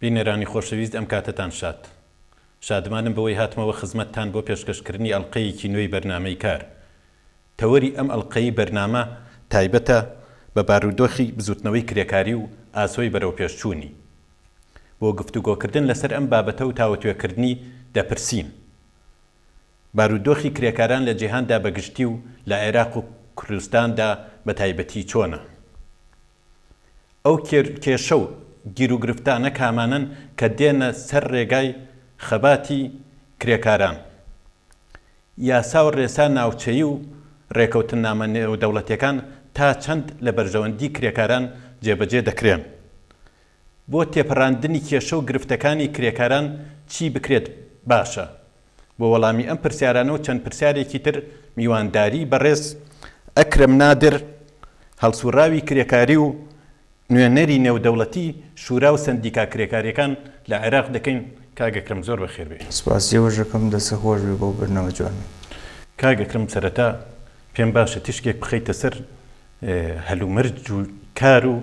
بینەرانی خۆشەویست ئەم کاتەتان شاد. شادمانم بەوەی هاتمەوە خزمەتتان بۆ پێشکەشکردنی ئەڵقەیەکی نوێی بەرنامەی کار. تەوەری ئەم ئەڵقەی بەرنامە تایبەتە بە بارودۆخی بزوتنەوەی کرێکاری و ئاسۆی بەرەوپێشچوونی. بۆ گفتوگۆکردن لەسەر ئەم بابەتە و تاوتوێکردنی دەپرسین. بارودۆخی کرێکاران لە جیهاندا بە گشتی و لە عێراق و کوردستاندا بە تایبەتی چۆنە؟ ئەو کێشە و گیروگرفتانە کامانەن کە دێنە سەر رێگای خەباتی کرێکاران؟ یاسا و رێسا ناوچەیی و رێکەوتننامە نێودەوڵەتییەکان تا چەند لە بەرژەوەندی کرێکاران جێبەجێ دەکرێن؟ بۆ تێپەڕاندنی کێشە و گرفتەکانی کرێکاران چی بکرێت باشە؟ بۆ وەڵامی ئەم پرسیارانە و چەند پرسیارێکی تر میوانداریی بەڕێز ئەکرەم نادر هەڵسوڕاوی کرێکاری و نوێنەری نێودەوڵەتی شورا و سەندیکا کرێکاریەکان لە عێراق دەکەین کاک ئەکرەم زۆر بەخێر بێی. سپاس جێبەجەکەم دەستت خۆش بێت بۆ بردنەوە جوانە. کاک ئەکرەم سەرەتا پێم باشە تیشکێک بخەیتە سەر هەلومەرج و کار و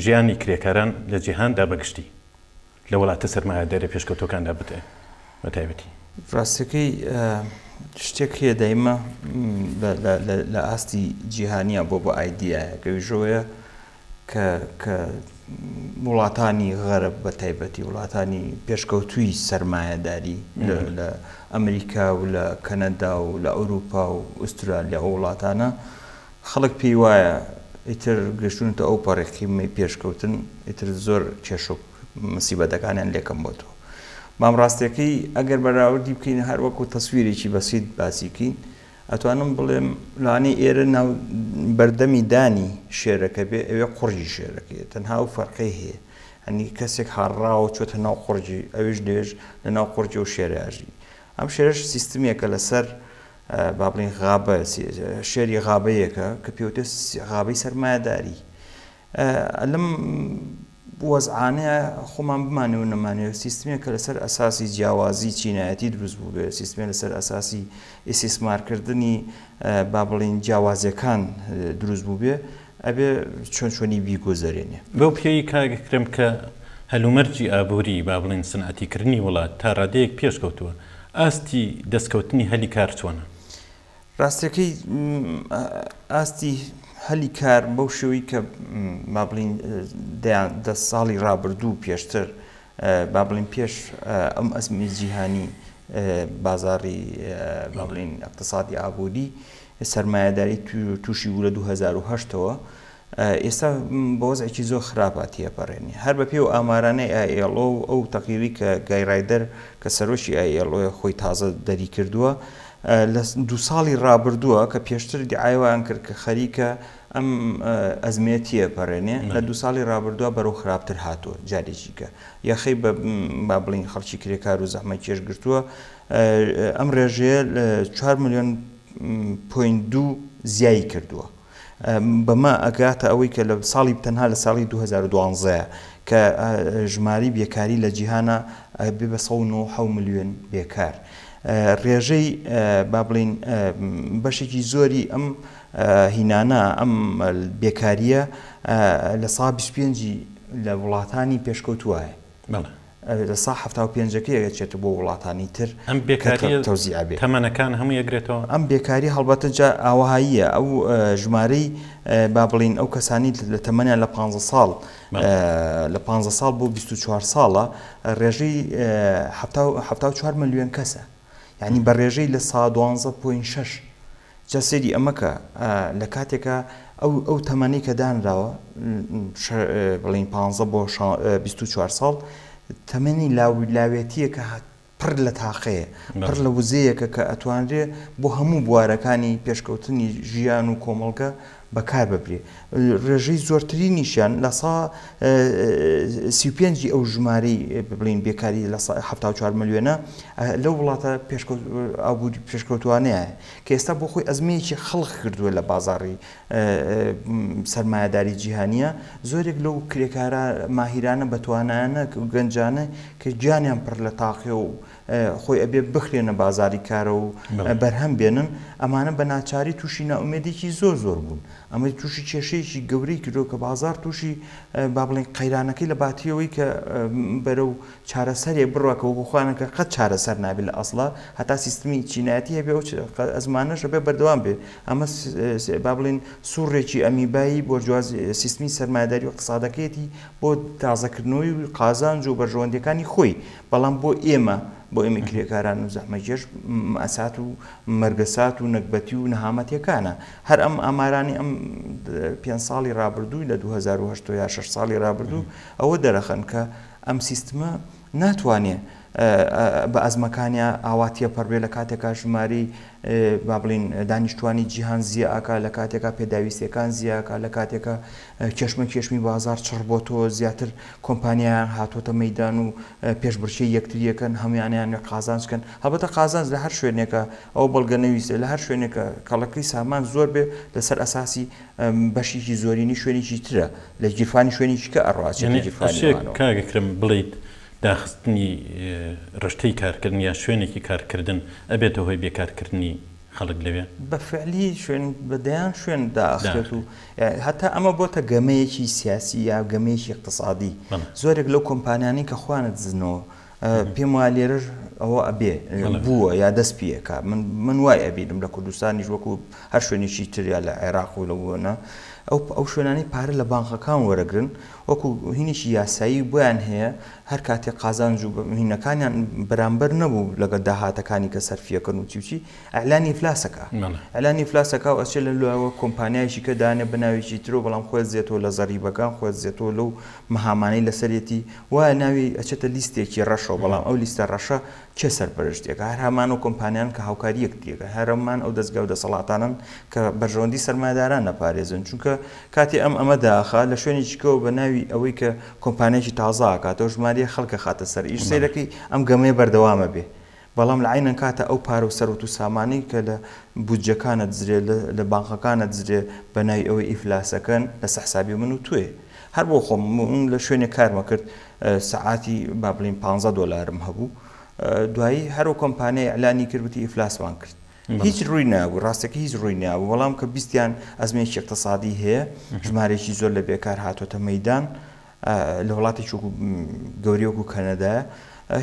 ژیانی کرێکاران لە جیهاندا بە گشتی لە وڵاتە سەرمایەدارە پێشکەوتوەکاندا بدەن بە تایبەتی. ڕاستەکەی شتێک هەیە دایمە لە ئاستی جیهانیا بۆ بە ئایدایە گەویژەوەیە کە وڵاتانی غەرب بە تایبەتی وڵاتانی پێشکەوتووی سەرمایەداری لە ئەمریکا و لە کەنەدا و لە ئەوروپا و ئوسترالیا و وڵاتانە خەڵک پێی وایە ئیتر گەشتونەتە ئەو پەڕی قیمەی پێشکەوتن ئیتر زۆر کێشەو مسیبەتەکانیان لێ کەم بۆتەوە بام ڕاستەکەی ئەگەر بەراوردی بکەین هەر وەکو تەسویرێکی بەسیت باسی کەین ئەتوانم بڵێم لانی ئێرە ناو بەردەمی دانی شێرەکە بێ ئەوێ قڕی شێرەکەی تەنها و فەرقەی هەیە هەنی کەسێک هاڕراوە چۆتە ناو قڕی ئەوش لێژ لە ناو قڕی و شێرەژی ئەم شێرش سیستمێکە لەسەر با بڵێین غابە، شێری غابەیەکە کە پێوترێت غابەی سەرمایەداری. لەم وەزعانەیا خۆمان بمانەوە نەمانەوێت سیستمێک کە لەسەر ئەساسی جیاوازی چینایەتی دروست بووبێت، سیستمێک لەسەر ئەساسی ئیسیسمارکردنی با بڵێین جیاوازیەکان دروست بووبێت، ئەبێ چۆن چۆنی بیگوزەرێنێ. بەو پێیەی کاک ئەکرەم کە هەلومەرجی ئابووری، با بڵێین سنعەتیکردنی وڵات تا رادەیەک پێش کەوتووە، ئاستی دەستکەوتنی هەلی کار چۆنە؟ راستییەکەی ئاستی هەلی کار بەو شێوەی کە با بڵێین دەیان دە ساڵی رابردوو پێشتر با بڵێین پێش ئەم ئەزموونی جیهانی بازاری با بڵێین ئیقتسادی ئابووری سەرمایەداری تووشی بوو لە دوو هەزار و هەشت ەوە ئێستا بە وەزعێکی زۆر خراپە تێپەڕێنی هەر بە پێ و ئامارانەی ئایLO و ئەو تەقیری کە گایرایدەر کە سەرۆکی ئایLO خۆی تازە دەری کردووە لە دوو ساڵی ڕابردووە کە پێشتر دیعایوان کرد کە خەریکە ئەم ئەزمەیە تێئەپەرێنێ، لە دوو ساڵی رابردووە بەرەو خراپتر هاتووە، جارێکیکە یەخەی بە با بڵێین خەڵکی کرێکار و زەحمەتکێش گرتووە، ئەم رێژەیە چوار ملیۆن پۆینت دوو زیایی کردووە، بەمە ئەگاتە ئەوەی کە لە ساڵی تەنها لە ساڵی دوو هەزار و دوازدە کە ژمارەی بێکاری لە جیهانا ئەبێ بە سەد و نۆ و حەوت ملیۆن بێکار، رێژەی با بڵێین بەشێکی زۆری ئەم. هینانە ئەم بێکارییە لە سا بیست پێنجی لە وڵاتانی پێشکەوتووایە. بەڵێ. لە سا حەفتا و پێنجەکەی ئەگەچێتە بۆ وڵاتانی تر ئەم بێکارییە تەوزیع بێ. تەمەنەکان هەمووی ئەگرێتەوە؟ ئەم بێکاری هەڵبەتە جا ئاوەهاییە ئەو ژمارەی با بڵێین ئەو کەسانی لە تەمەنیان لە پانزە ساڵ لە پانزە ساڵ بۆ بیست و چوار ساڵە ڕێژەی حەفتا و حەفتا و چوار مەلیۆن کەسە. یانی بە ڕێژەی لە سا دوانزە پۆین شەش. جا سەیری ئەمە کە لە کاتێکا ئەو ئەو تەمەنەی کە دانراوە بڵین پانزە بۆ بیست و چوار ساڵ تەمەنی لاوی لاوێتیە کە پڕ لە تاقەیە پڕ لە وزەیەکە کە ئەتوانرێ بۆ هەموو بوارەکانی پێشکەوتنی ژیان و کۆمەڵگە بەکار ببرێت ڕێژەی زۆرترینیشیان لە سە سی و پێنج ی ئەو ژمارەی بڵین بێکاری لە سە حەفتا و چوار ملیۆنە لەو وڵاتە پێشکەوت ئابووری پێشکەوتووانەیە کە ئێستا بۆ خۆی ئەزمەیەکی خەڵق کردووە لە بازاڕی سەرمایەداری جیهانییە زۆرێک لەو کرێکارە ماهیرانە بەتوانایانە و گەنجانە کە گیانیان پڕ لە تاقیە و خۆی ئەبێ بخرێنە بازاری کارە و بەرهەم بێنن، ئەمانە بە ناچاری تووشی نائومێدێکی زۆر زۆر بوون، ئەمەی تووشی کێشەیەکی گەورەی کردووە کە بازار تووشی با بڵێن قەیرانەکەی لە باتی ئەوەی کە بەرەو چارەسەرێ بڕوا کە وەکوو خۆیان کە قەت چارەسەر نابێ لە ئەسڵا هەتا سیستمی چینایەتی هەبێ ئەو ئەزمانەش هەبێ بەردەوام بێ ئەمە با بڵێن سوڕێکی ئەمیبایی بۆرجوازی سیستمی سەرمایەداری و ئیقتسادەکەیەتی بۆ تازەکردنەوەی قازانج و بەرژەوەندییەکانی خۆی بەڵام بۆ ئێمە، بۆ ئێمەی کرێکاران و زەحمەتکێش، مەئەسات و مەرگەسات و نەگبەتی و نەهامەتیەکانە. هەر ئەم ئامارانەی ئەم پێنج ساڵی رابردووی لە دوو هەزار و هەشت و یا شەش ساڵی رابردوو ئەوە دەرەخەن کە ئەم سیستمە ناتوانێ بە ئەزمەکانیا ئاوا تێپەڕ بێ لە کاتێکا ژمارەی با بڵێین دانیشتوانی جیهان زیاکا لە کاتێکا پێداویستیەکان زیاکا لە کاتێکا کێشمەکێشمی بازاڕ چڕبۆتەوە، زیاتر کۆمپانیایان هاتۆتە مەیدان و پێشبڕکێی یەکتری ئەکەن، هەموان ئەیانوێ قازانج بکەن، هەڵبەتە قازانج لە هەر شوێنێکە ئەوە بەڵگە نەویستە، لە هەر شوێنێکە کەڵەکەی سامان زۆر بێ لەسەر ئەساسی بەشێکی زۆرینەی شوێنێکی ترە لە گیرفانی شوێنێکی کە ئەڕوا چێتە گیرفانی ئەوانەوە. یەعنی ئەشێ کاک ئەکرەم بڵێیت داخستنی ڕشتەی کارکردن یا شوێنێکی کارکردن ئەبێتە هۆی بێکارکردنی؟ خەڵک لەوێ. بە فعلی شوێن بە دەیان شوێن داخرێت و هەتا ئەمە بۆتە گەمەیەکی سیاسی یا گەمەیەکی اقتصادی زۆرێک لەو کۆمپانیانەی کە خۆیانە دزنەوە پێم وایە لێرەش ئەوە ئەبێ بووە یا دەست پێکە من وای ئەبینم لە کوردستانیش وەکو هەر شوێنێکی تریا لە عێراق و لە وەنە ئەو ئەو شوێنانی پارە لە بانقەکان وەرەگرن وەکو هینێکی یاسایی بۆیان هەیە هەر کاتێ قازانج و هینەکانیان بەرامبەر نەبوو لەگەل داهاتەکانی کە سەرفیەکەن و چی و چی ئیعلانی ئیفلاس ئەکا ئیعلانی ئیفلاس ئەکا و ئەچێ لە لواوە کۆمپانیایەکی کە دانێ بە ناوێکی ترو بەڵام خۆێ دزێتەوە لە زەریبەکان خۆێ دزێتەوە لەو مەهامانەی لەسەرێتی وایە ناوی ئەچێتە لیستێکی رەشەوە بەڵام ئەو لیستە رەشە کێ سەرپەرشت دەکا؟ هەر هەمان ئەو کۆمپانیان کە هاوکاری یەکتری یەکن، هەر هەمان ئەو دەزگا و دەسەڵاتانەن کە بەرژەوەندی سەرمایەداران نەپارێزن، چونکە کاتێ ئەم ئەمە داخا لە شوێنێکی کەوە بە ناوی ئەوەی کە کۆمپانیایەکی تازە ئاکاتەوە ژماریە خەڵک ئەخاتە سەر ئیش، سەیرەکەی ئەم گەمەیە بەردەوام ئەبێ، بەڵام لە عەین کاتا ئەو پارە و سەروەت و سامانەی کە لە بودجەکان ئەدزرێ لە بانقەکان ئەدزرێ بە ناوی ئەوەی ئیفلاسەکەن لە سە حسابی من و تۆیە هەر بۆ خۆم من لە شوێنێ کارمەکرد، سەعاتی با بڵێین پانزە دۆلارم هەبوو دوایی هەر و کۆمپانیای ئەلانی کرد وتی ئیفلاسمان کرد هیچ ڕووی نابوو ڕاستەکە هیچ ڕووی نابوو بەڵام کە بیستیان ئەزمێکی اقتصادی هەیە ژمارێکی زۆر لە بێکار هاتۆتە مەدان لە وڵاتی چوک گەوریۆک و کەنەدایە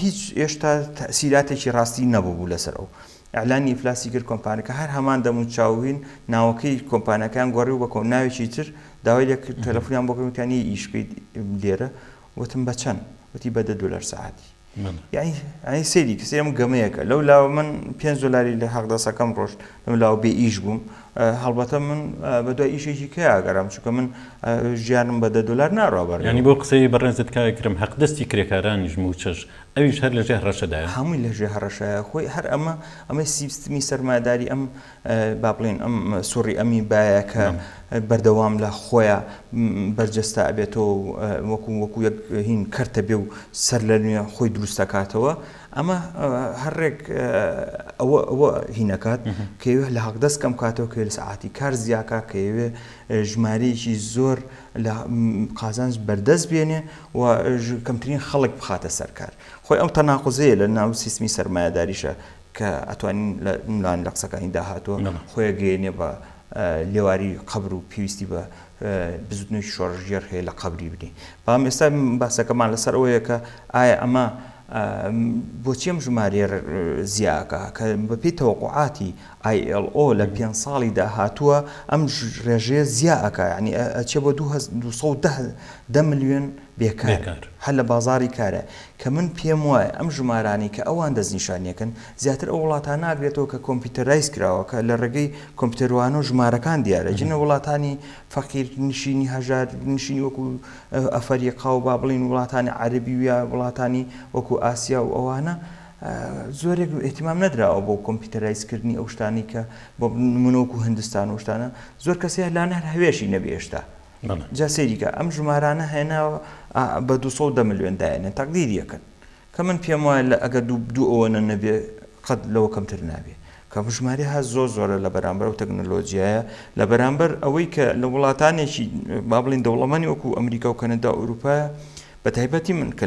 هیچ ئێشتا تەسیراتێکی ڕاستی نەبوو بوو لەسەر ئەو ئیعلانی ئیفلاسی کرد کۆمپانەکە هەر هەمان دەم و چاو وین ناوەکەی کۆمپانەکەیان گۆڕی و بە کۆ ناوێکی تر داوای لێ کرد تەلەفونیان بۆ کرد وتیان یەی ئیش بکەیت لێرە وتم بە چەن وتی بە دە دولار سەعاتی یەعنی یەعنی سەیری کە سەیرم گەمەیەکە لەو لاوە من پێنج دولاری لە هەق دەسەکەم ڕۆشت لەو لاوە بێ ئیش بووم هەڵبەتە من بە دوای ئیشێکی کە ئەگەرام چونکە من ژیانم بە دە دولار ناڕابەر یەعنی بۆ قسەی بەڕێزت کاکە کرم هەق دەستی کرێکارانیش موچەش ئەویش هەر لەژێ هەڕەشەدایە؟ هەمووی لەژێ هەڕەشەیە، خۆی هەر ئەمە، ئەمەی سیستمی سەرمایەداری ئەم با بڵێین ئەم سوڕی ئەمی بایە کە بەردەوام لە خۆیا بەرجەستە ئەبێتەوە و وەکو وەکو یەک هین کەرتە بێ و سەر لە نوێ خۆی دروست ئەکاتەوە، ئەمە هەر ڕێک ئەوە ئەوە هین ئەکات کە یەوێ لە هەڵدەست کەم کاتەوە، کە یەوێ سەعاتی کار زیا کا، کە یەوێ ژمارەیەکی زۆر لە قازانج بەردەست بێنێ، و کەمترین خەڵک بخاتە سەر کار. خۆی ئەو تەناقوزەیە لە ناو سیستمی سەرمایەداریشە کە ئەتوانین لە ملان لە قسەکانی داهاتووە خۆی ئەگەیەنێ بە لێواری قەبر و پێویستی بە بزوتنەوەی شۆڕشگێڕ هەیە لە قەبری بنێ. بەڵام ئێستا باسەکەمان لەسەر ئەوەیە کە ئایا ئەمە بۆچی ئەم ژمارەیە زیاکە کە بەپێی تەوەقوعاتی ILO لە پێنج ساڵی داهاتووە ئەم رێژەیە زیا ئەکا یانی ئەچێ بۆ دوو هەز دوو سەد و دە دە ملیۆن بێکار هەر لە بازاڕی کارا کە من پێم وایە ئەم ژمارانەی کە ئەوان دەستنیشانیەکەن زیاتر ئەو وڵاتان ناگرێتەوە کە کۆمپیوتەرایز کراوە کە لە رێگەی کۆمپیوتەروانەوە ژمارەکان دیارە جنە وڵاتانی فەقیر نشینی هەژار نشینی وەکو ئەفەریقا و با بڵێین وڵاتانی عەرەبی و یا وڵاتانی وەکو ئاسیا و ئەوانە زۆرێک ئیهتیمام نەدراوە بۆ کۆمپیوتەرایز کردنی ئەو شتانەی کە بۆ نمونە وەکو هندستان و ئەو شتانە زۆر کەس هەیە لانە هەر هەوێشی نەبێ هێشتا جا سەیری کە ئەم ژمارانە هێناوە بە 210 ملیۆن دایەنێن تەقدیری یەکەن کە من پێم وایە لە ئەگەر دوو دوو ئەوەنە نەبێ قەت لەوە کەمتر نابێ کە ژمارە هەست زۆر زۆرە لە بەرامبەر و تەکنۆلۆژیایە لە بەرامبەر ئەوەی کە لە وڵاتانێکی با بڵین دەوڵەمەنی وەکو ئەمریکا و کەنەدا ئەوروپایە بە تایبەتی من کە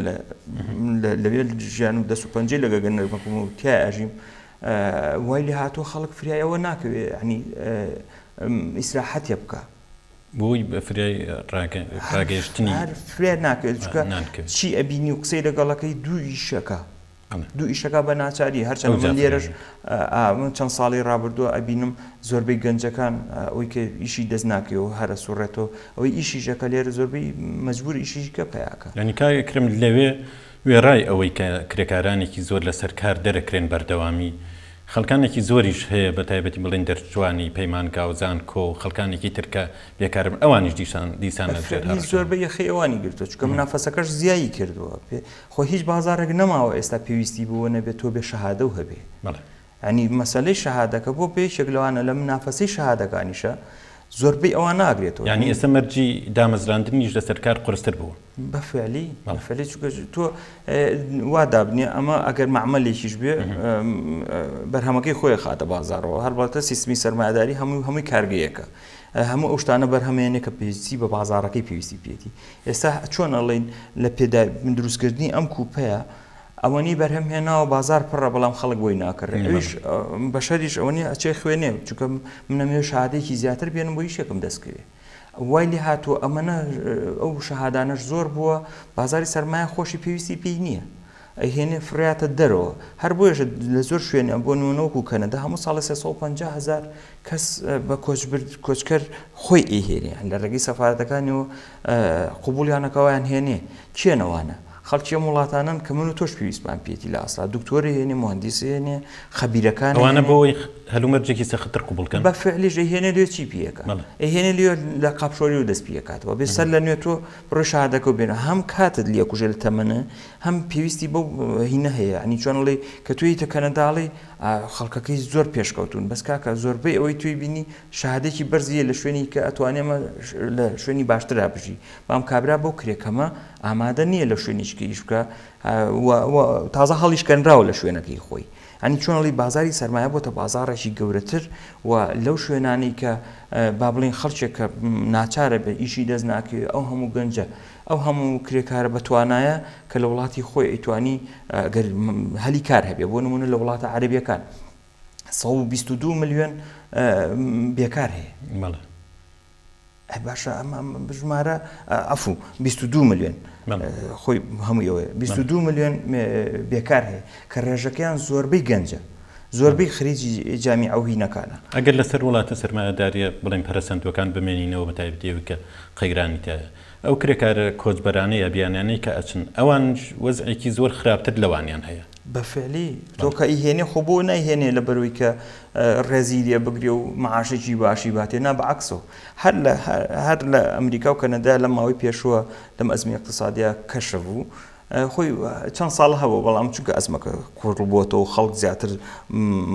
لەوێ ژیان و دەست و پەنجەی لە گەگە نەرمەکوم و تیا ئەژیم وای لێ هاتووە خەڵک فریایەوە ناکەوێ عنی ئیسراحەتێ بکە بۆی بەفرای ڕاگەشتنی فرێ ناکرێت چکە چی ئەبینی و قسەی لەگەڵەکەی دوو ئیشەکە دوو ئیشەکە بە ناچاری هەرچەندە من لێرەش من چەند ساڵی ڕابردووە ئەبینم زۆربەی گەنجەکان ئەوی کە ئیشی دەست ناکەی و هەرە سوڕێتەوە ئەوەی ئیشیشەکە لێرە زۆربەی مەجبور ئیشیش کە پیاکە یعنی کاک ئەکرەم لەوێ وێڕای ئەوەی کە کرێکارانێکی زۆر لەسەر کار دەرەکرێن بەردەوامی خەڵکانێکی زۆریش هەیە بە تایبەتی بڵێن دەرچووانی پەیمانگا و زانکۆ و خەڵکانێکی تر کە بێکارن ئەوانیش دیسان دیسان لە فرەتنی زۆربەی یەخەی ئەوانی گرتووە چونکە منافەسەکەش زیایی کردووە خۆ هیچ بازارێک نەماوە ئێستا پێویستی بەوە نەبێت تۆ بێ شەهادەو هەبێ بەڵێ. یانی مەسەلەی شەهادەکە بۆ بە یەکێک لەوانە لە منافەسەی شەهادەکانیشە زۆربەی ئەوان ناگرێتەوە یانی یانی ئێستا مەرجی دامەزراندنیش لەسەر کار قورستر بووە. بە فعلی بەڵێ. فعلی چونکە تۆ وا دابنێ ئەمە ئەگەر مەعمەلێکیش بێ بەرهەمەکەی خۆی ئەخاتە بازاڕەوە هەڵبەتە سیستمی سەرمایەداری هەمووی هەمووی کارگەیەکە. هەموو ئەو شتانە بەرهەمێنێ کە پێویستی بە بازارەکەی پێویستی پێێتی ئێستا چۆن ئەڵین لە پێدا من دروستکردنی ئەم کوپەیە ئەوەنی بەرهەم هێناوە بازار پڕە بەڵام خەڵک بۆی ناکرێت ئەوش بەشەریش ئەوەنی ئەچێ خوێنێ چونکە منەمێ شادێکی زیاتر بێنم بۆ یشێکم دەستکەوێت وای لێ هاتووە ئەمەە ئەو شەهادانەش زۆر بووە بازاری سەرمایە خۆشی پێویستی پێی نییە ئەیهێنێ فڕێاتە دەرەوە هەر بۆیەشە لە زۆر شوێنیان بۆ نمونە وەکو کەنەدا هەموو ساڵێ سێ سەد و پەنجا هەزار کەس بە کۆچبرد کۆچکەر خۆی ئەیهێنێ یان لە ڕێگەی سەفارەتەکانیەوە قبوڵیانە کەوە ئەیانهێنێ کێن ئەوانە خەڵکی ئەم وڵاتانەن کە من و تۆش پێویستمان پێیەتی لە ئەسڵا دکتۆر ئەیهێنێ موهەندیس ئەیهێنێ خەبیرەکان ئەیهێنێ ئەوانە بۆی هەلومەرجێکی سەختتر قبوڵ کەن بە فعلیش ئەیهێنێ لێ چی پێ ئەکا بەڵێ ئەیهێنێ لێ لە قاپشۆری و دەست پێ ئەکاتەوە بێ سەر لە نوێ تۆ بڕۆی شەهادەکە و بێنە هەم کاتت لێ ئەکوژێ لە تەمەنە هەم پێویستی بەو هینە هەیە یانی چۆن ئەڵێی کە تۆ یەیتە کەنەدا ئەڵێی ئا خەڵکەکەی زۆر پێشکەوتوون بەس کاکە زۆربەی ئەوەی تۆی بینی شەهادەیەکی بەرزی هەیە لە شوێنی کە ئەتوانێ مە لە شوێنی باشترا بژی بەام کابرا بەو کرێ کەمە ئامادە نییە لە شوێنیش کە ئیش بکا ئا وە وە تازە هەڵیش کەنراوە لە شوێنەکەی خۆی یانی چۆن ئەڵێی بازاری سەرمایە بۆتە بازاڕێکی گەورەتر و لەو شوێنانەی کە ئا با بڵێین خەڵکێک کە ناچارە بێ ئیشی دەست ناکەوێ ئەو هەموو گەنجە ئەو هەموو کرێکارە بەتوانایە کە لە وڵاتی خۆی ئەیتوانی گەر هەلی کار هەبێ بۆ نمونە لە وڵاتە عەرەبیەکان سەد و بیست و دوو ملیۆن بێکار هەیە مەڵێ ئەی باشە ئەمە بژمارە ئەفو 22 ملیۆن خۆی هەموو ئەوێ 22 ملیۆن بێکار هەیە کە ڕێژەکەیان زۆربەی گەنجە زۆربەی خریجی جامی ئەوهی نەکانە ئەگەر لەسەر وڵاتە سەرمایەداریە بڵێن پەرسەندوەکان بمێنینەوە بە تایبەتەوە کە قەیرانی تایە ئەو کرێکارە کۆچبەرانەی یا بیانیانەی کە ئەچن ئەوانیش وەزعێکی زۆر خراپتر لەوانیان هەیە. بە فعلی تۆ کە ئیهێنێ خۆ بۆ نایهێنێ لە بەروی کە ڕێزی لێ بگرێ و معاشێکی باشی باتێ نا بە عەکسەوە هەر لە هەر لە ئەمریکا و کەنەدا لەم ماوەی پێشووە لەم ئەزموونە ئیقتسادیە کەشف و خۆی چەند ساڵ هەبوو بەڵام چونکە ئەزمەکە کوڕبووەوە و خەڵک زیاتر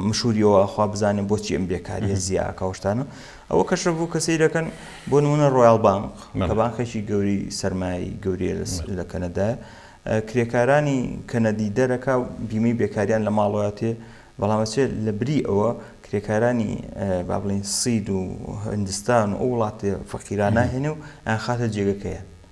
مشوریەوە خوا بزانێن بۆچی ئەم بێکاریە زیاکەشتانە ئەوە کەشە بوو کە سیرەکەن بۆ نمونە ڕۆیال بانک کە بانکێکی گەوری سەرمایی گەوریە لە کەنەدا کرێکارانی کەنەدی دەرەکە بیمەی بێکاریان لە ماڵاتێ بەڵامەچێت لە بری ئەوە کرێکارانی با بڵین سید و هندستان و ئەو وڵاتێ فەقیراناهێنێ و ئەخاتە جێگەکەیە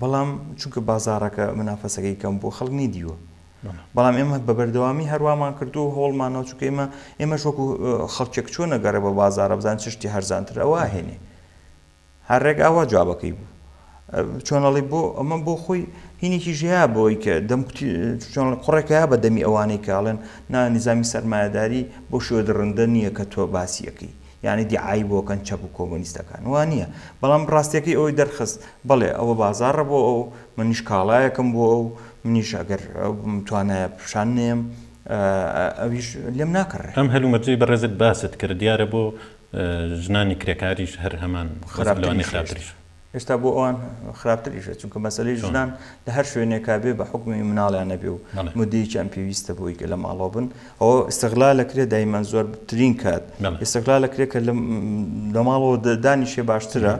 بەڵام چونکە بازاڕەکە منافەسەکەی کەم بووە خەڵک نەیدیوە بەڵام ئێمە بە بەردەوامی هەروامان کردو و هەوڵمانەوە چونکە ئێمە ئێمەش وەکو خەڵکێک چۆن نەگەڕێ بە بازارە بزان چشتی هەرزانتر ئەوە هێنێ هەر ڕێک ئاوا جوابەکەی بوو چۆنەڵی بۆ ئەمە بۆ خۆی هینێکی ژەیە بۆی کە دەم قڕێکەیە بە دەمی ئەوانەی کاڵێن نا نیزامی سەرمایهداری بۆ شێوە دڕندە نییە کە تۆ باسیەکەی یانی دیعای بۆ کەن چەپ و کۆمۆنیستەکان وا نیە بەڵام ڕاستیەکەی ئەوەی دەرخست بەڵێ ئەوە بازاڕە بۆ ئەو منیش کاڵایەکم بۆ ئەو منیش ئەگەر توانایە پیشان نێم ئەویش لێم ناکڕێ. ئەم هەلومەرجەی بەڕێزت باست کرد دیارە بۆ ژنانی کرێکاریش هەر هەمان خراپترین شێوە. ئێستا بۆ ئەوان خراپتریشە چونکە مەسەلەی ژنان لە هەر شوێنێکا بێ بە حکومی مناڵیان نەبێ و مدەیەکیان پێویستە بۆی کە لە ماڵەوە بن ئەوە ئستغلا لە کرێ دایمان زۆر بترین کات ئستغلا لە کرێ کە لە ماڵەوە دانیشێ باشترە.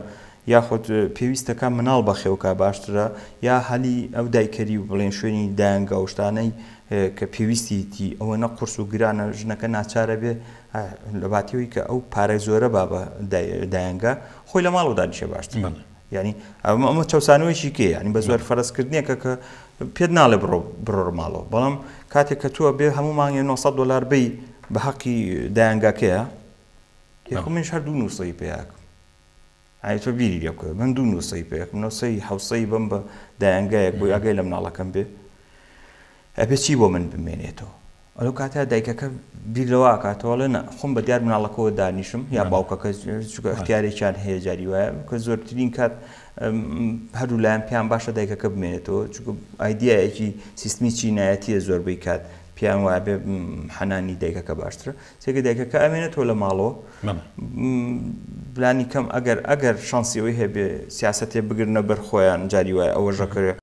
یاخود پێویستەکە مناڵ بەخێوکە باشترە یا هەلی ئەو دایکەری و بڵێن شوێنی دایانگا و شتانەی کە پێویستیتی ئەوە نە قرس و گرانە ژنەکە ناچارە بێ لە باتیەوەی کە ئەو پارەی زۆرە بابە دایانگە خۆی لە ماڵەوە دانیشێ باشترە یانی ئەمە چەسانەوەیکی کێ ینی بە زۆر فەرزکردنیەکە کە پێت ناڵێ بڕۆ بڕۆ ماڵەوە بەڵام کاتێک کە تووە بێ هەموو مانگی 900 دلار بی بە حەقی دایانگاکەیە یخ منش هەر دوو نووسەی پێیاکم ئایتۆ بیری لێ بکە من دوو نووسەی پێکم نووسەی حوسەی بم بە دایانگایەک بۆی ئەگەی لە مناڵەکەم بێ ئەبێ چی بۆ من بمێنێتەوە؟ ئەو کاتە دایکەکە بیر لەوە ئەکاتەوە ئەڵێ نا، خۆم بە دیار مناڵەکەوە دانیشم یا باوکەکە چونکە ئەختیارێکیان هەیە جاری وایە کە زۆرترین کات هەردوو لایەن پێیان باشە دایکەکە بمێنێتەوە چونکە ئایدیایەکی سیستمی چینایەتیە زۆربەی کات پێیان وایە بێ حەنانی دایکەکە باشترە سێکە دایکەکە ئەمێنێتەوە لە ماڵەوە بلانی کەم ئەگەر ئەگەر شانسی ئەوی هەبێ سیاستێ بگرنە بەر خۆیان جاری وایە ئەوە ژەکەێ